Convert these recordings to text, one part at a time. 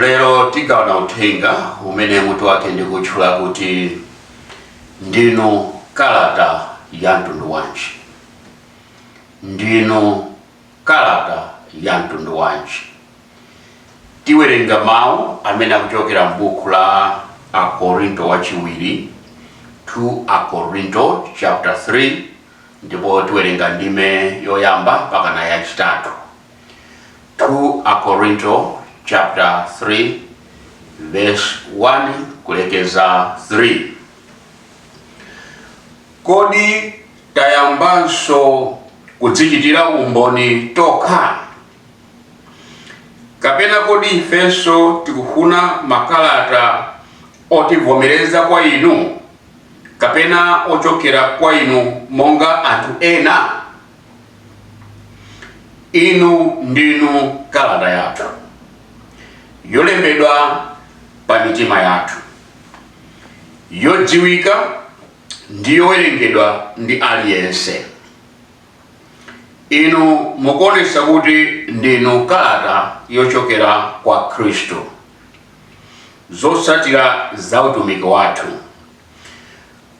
Lero tigawane uthenga umene mutu wake ndikuutchula kuti Ndinu Kalata ya Mtundu Wanji? Ndinu Kalata ya Mtundu Wanji? Tiwerenga mawu amene akuchokera m'buku la Akorinto Wachiwiri, 2 Akorinto chapter 3, ndipo tiwerenga ndime yoyamba mpakana yachitatu. 2 Akorinto chapter 3 verse 1 kulekeza 3 kodi tayambanso kudzichitira umboni tokha kapena kodi ifenso tikufuna makalata otivomereza kwa inu kapena ochokera kwa inu monga anthu ena inu ndinu kalata yathu yolembedwa pa mitima yathu yodziwika ndi yowerengedwa ndi aliyense inu mukuonesa kuti ndinu kalata yochokera kwa khristu zotsatira za utumiki wathu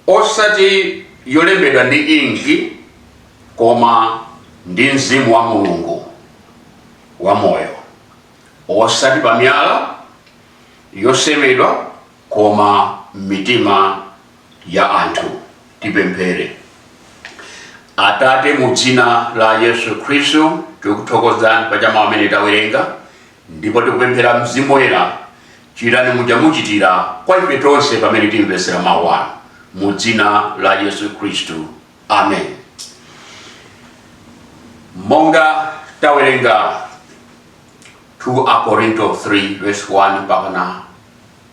osati yolembedwa ndi inki koma ndi mzimu wa mulungu wamoyo osati pa miyala yosemedwa koma m'mitima ya anthu tipemphere atate mu dzina la yesu khristu tikuthokozani pa mawu amene tawerenga Ndipo tikupemphera, Mzimu Woyera, chitani muja muchitira kwa ife tonse pamene timvetsera mawu anu, mu dzina la Yesu Khristu, amen. Monga tawerenga 2 Akorinto 3 verse 1 mpakana 2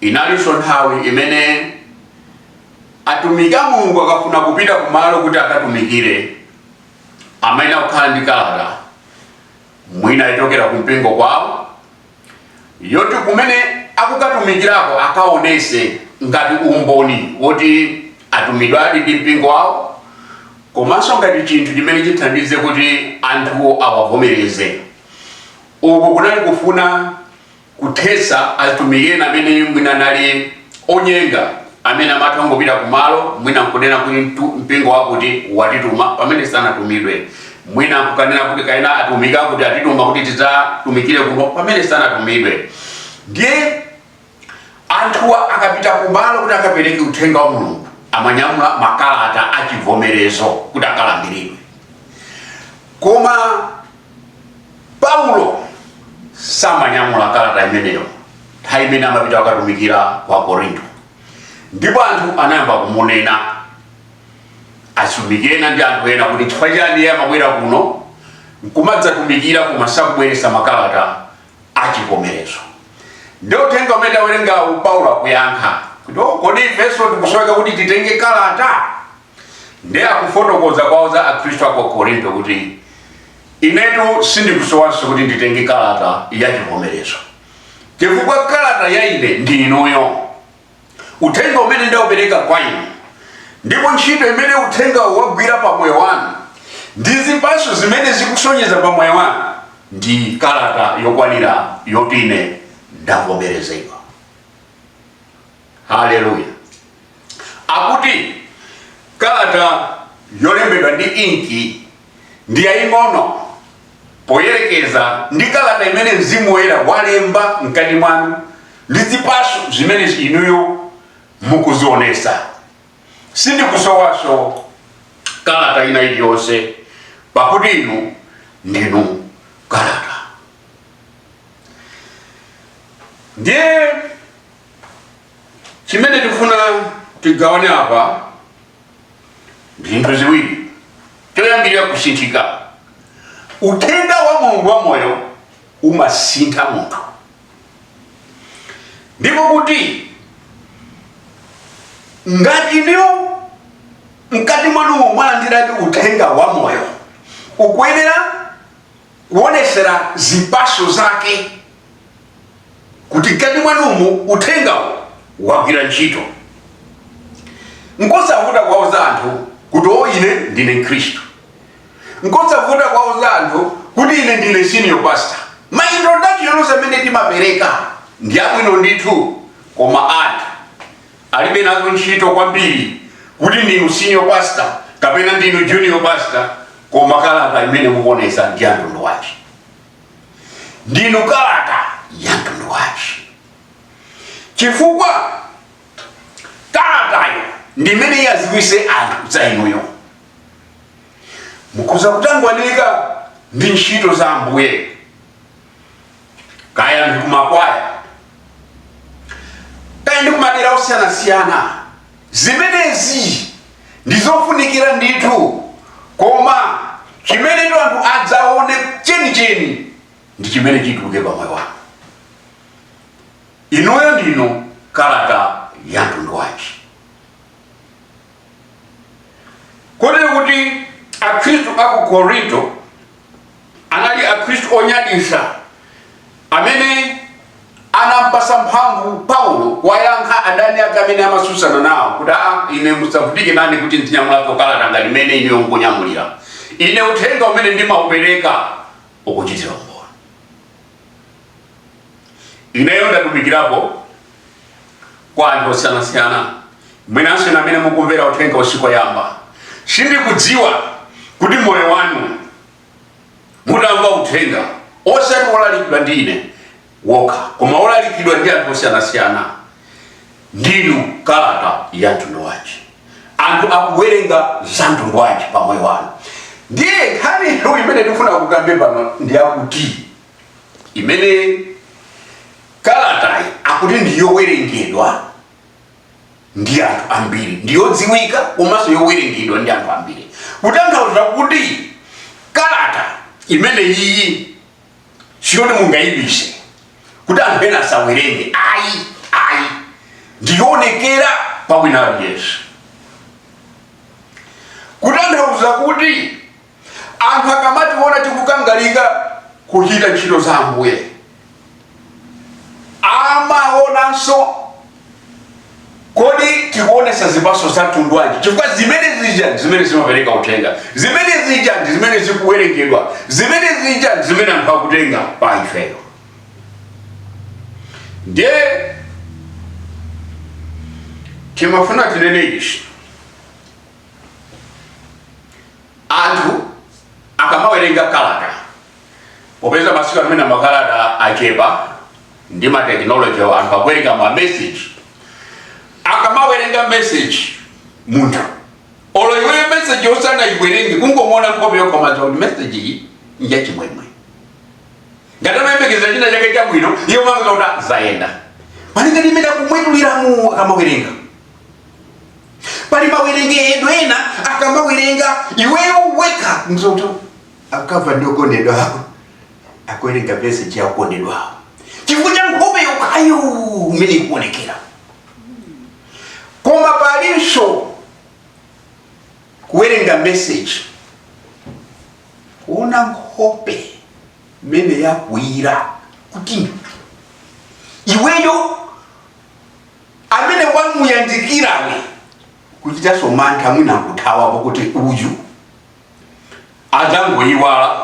Inalinso nthawi imene atumiki a Mulungu akafuna kupita kumalo kuti akatumikire amayenera kukhala ndi kalata mwina yochokera ku mpingo kwawo yoti kumene akukatumikirako akaonese ngati umboni woti atumidwadi ndi mpingo wawo komanso ngati chinthu chimene chithandize kuti anthuwo awavomereze uku kunali kufuna kuthetsa atumiki ena amene mwina anali onyenga, amene amatha kungopita kumalo mwina nkunena kuti mtu- mpingo wakuti watituma pamene sanatumidwe, mwina nkukanena kuti kaena atumiki akuti atituma kuti tidzatumikire kuno pamene sanatumidwe. Ndiye anthuwa akapita kumalo kuti akapereke uthenga wa mulungu amanyamula makalata achivomerezo kuti akalandiridwe koma paulo samanyamula kalata imeneyo nthawi imene amapita kukatumikira ku korinto ndipo anthu anayamba kumunena atumiki ena ndi anthu ena kuti chifukwa chani iye amabwera kuno nkumadzatumikira koma sakubweretsa makalata achivomerezo ndiye uthenga umene tawerengawu paulo akuyankha kuti "Oh, kodi ifenso tikusoweka kuti titenge kalata ndi akufotokoza kuwauza akhristu a ku korinto kuti inetu sindikusowanso kuti nditenge kalata ya chivomerezo chifukwa kalata ya ine ndi inuyo uthenga umene ndaupereka kwa inu ndipo ntchito imene uthengawo wagwira pa moyo wanu ndi zipatso zimene zikusonyeza pa moyo wanu ndi kalata yokwanira yoti ine ndavomerezedwa haleluya akuti kalata yolembedwa ndi inki ndi yaying'ono poyerekeza ndi kalata imene mzimu woyera walemba mkati mwanu ndi zipaso zimene inuyo mukuzionesa sindikusowaso kalata ina iliyonse pakuti inu ndinu kalata ndiye chimene tikufuna tigawane apa ndi zinthu ziwiri choyambirira kusinthika uthenga wa mulungu wa moyo umasintha munthu ndipo kuti ngati inuyo mkati mwanu mwalandiradi uthenga wa moyo ukuyenera kuonesera zipaso zake kuti mkati mwanumu uthengawo wagwira ntchito nkosavuta kwauza anthu kuti o ine ndine mkhristu nkosavuta kwauza anthu kuti ine ndine senior pastor ma introduction onse amene timapereka ndi abwino ndithu koma anthu alibe nazo ntchito kwambiri kuti ndinu senior pastor kapena ndinu junior pastor koma kalata imene mukuonesa ndi ya mtundu wanji ndinu kalata ya mtundu wanji chifukwa kalatayo ndi imene iwaziwise anthu za inuyo mukhoza kutangwanika ndi ntchito za ambuye kaya ndi kumakwaya kaya ndi kumadera osiyanasiyana Zimenezi ndi zofunikira ndithu koma chimenetu anthu adzaone chenicheni ndi chimene chituluke pa moyo wanu. Inuyo ndinu kalata ya mtundu wanji? Kotero kuti Akhristu a ku Korinto anali Akhristu onyadisa amene anampasa mphamvu Paulo kuwayankha adani ake amene amatsutsana nawo kuti a ah, ine musavutikane nane kuti ndinyamulapo kalata ngati imene ineyo mukunyamulirani ine uthenga umene ndimaupereka ukuchitira umboni ineyo ndatumikirapo kwa anthu osiyanasiyana mwinanso inu amene mukumvera uthenga tsiku loyamba sindikudziwa kuti moyo wanu mutamva uthenga osati wolalikidwa ndi ine wokha koma wolalikidwa ndi anthu osiyanasiyana Ndinu kalata ya mtundu wanji? Anthu akuwerenga za mtundu wanji pa moyo wanu? Ndiye nkhani imene ndikufuna tikambe pano ndi yakuti imene kalatayi akuti ndi yowerengedwa ndi anthu ambiri, ndi yodziwika komanso yowerengedwa ndi anthu ambiri, kutanthauza kuti kalata imene iyi siyoti mungayibise kuti anthu ena asawerenge ayi ayi ndiyonekera pa wina aliyense kutanthauza kuti anthu akamationa tikukangalika kuchita ntchito za ambuye amaonanso kodi tikuonesa zipaso za mtundu wanji chifukwa zimene zija ndi zimene zimapereka uthenga zimene zija ndi zimene zikuwerengedwa zimene zija ndi zimene anthu akutenga pa ifeyo ndiye timafuna tinene ichi Anthu akamawerenga kalata, popeza masiku ano mwina makalata achepa ndi matekinoloji, anthu akuwerenga mameseji. Akamawerenga meseji munthu, olo iweyo meseji usanaiwerenge, kungomuona nkhope yokha umadziwa kuti meseji iyi njachimwemwe. Ngati amayembekezera china chake chabwino, iye umamuona kuti zayenda malinga ndi mmene akumwetuliramu akamawerenga. pali mawerengedwe ena akamawerenga iweyo weka moti akakhala ndi wokondedwa ako akuwerenga meseji ya wokondedwa ako chifukwa cha nkhope yokhayo mmene ikuonekera koma palinso kuwerenga message kuona nkhope imene yakwiyira kuti iweyo amene wamuyandikirawe kuchitanso mantha mwina nkuthawapo kuti uyu adzangoyiwala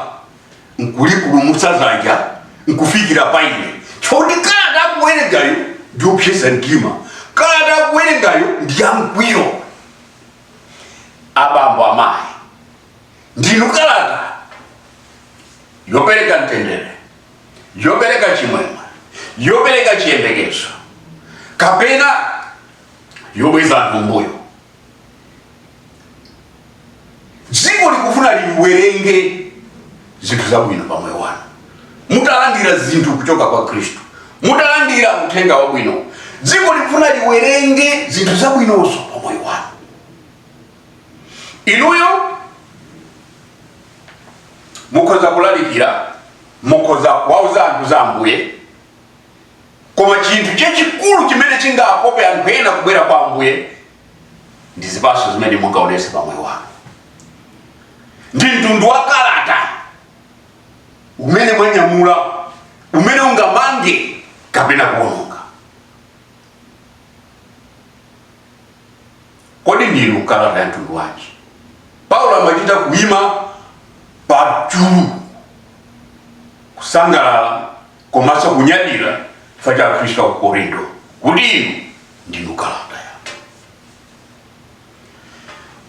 nkulipulumutsa dzanja nkufikira pa ine choti kalata akuwerengayo ndi yopsesa mtima kalata akuwerengayo ndi yamkwiyo abambo amayi ndinu kalata yopereka mtendere yopereka chimwemwe yopereka chiyembekezo kapena yobweza anthu mbuyo dziko likufuna liwerenge zinthu zabwino pa moyo wanu mutalandira zinthu kuchoka kwa khristu mutalandira uthenga wabwino dziko likufuna liwerenge zinthu zabwinozo pa moyo wanu inuyo mukhoza kulalikira mukhoza kuwauza anthu za ambuye koma chinthu chachikulu chimene chingakope anthu ena kubwera kwa ambuye ndi zipatso zimene mungaonese pa moyo wanu ndi mtundu wa kalata umene mwanyamula umene ungamange kapena kuononga kodi ndinu kalata ya mtundu wanji paulo amachita kuima pachulu kusangalala komanso kunyadira chifukwa cha akhristu a ku korinto kuti inu ndinu kalata yake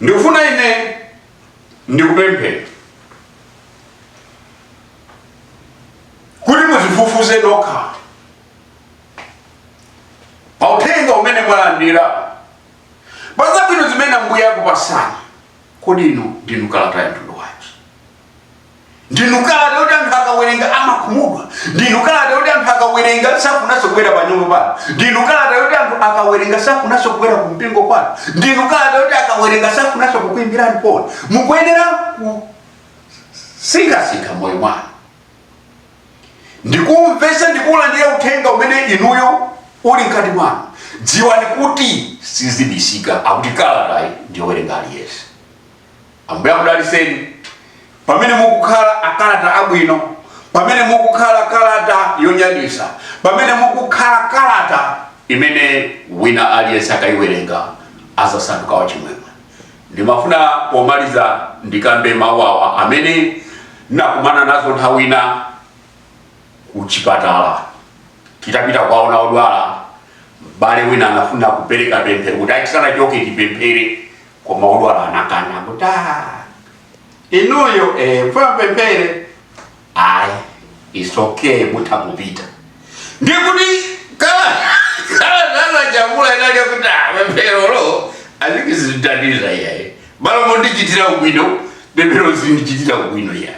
ndikufuna ine ndikupempheni kuti muzifufuze nokha pa uthenga umene mwalandira pa zabwino zimene ambuye akupasani kodi inu ndinu kalata ya mtundu wanji ndinu kalata yoti anthu akawerenga amakhumudwa ndinu kalata yoti anthu akawerenga safunanso kubwera pa nyumba pano ndinu kalata yoti anthu akawerenga safunanso kubwera ku mpingo kwanu ndinu kalata yoti akawerenga safunanso kukuimbirani foni mukuyenera kusinkhasinkha moyo mwanu ndikumvesa ndikuulandira uthenga umene inuyo uli mkati mwanu dziwani kuti sizibisika akuti kalatayi ndiyowerenga aliyense ambuye akudaliseni pamene mukukhala akalata abwino pamene mukukhala kalata yonyadisa pamene mukukhala kalata imene wina aliyense akayiwerenga azasanduka wachimwemwe Ndimafuna pomaliza ndikambe mawu awa amene ndinakumana nazo nthawi ina ku chipatala. Titapita kukaona odwala, m'bale wina anafuna kupereka pemphero kuti tisanachoke tipemphere, koma odwala anakana kuti "Ah, inuyo eh, mfuna apemphere ayi it's okay mutha kupita ndikuti kaya ajambula inalakuti pempherolo azikizitatiza iyaye bala mondichitira ubwino pemphero zindichitira ubwino iyaye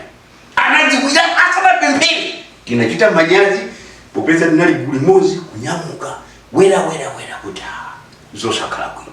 anadzikuya asanapemphere tinachita manyazi popeza tinali gulu limodzi kunyamuka wera wera wera kuti ah, zosakhala bwino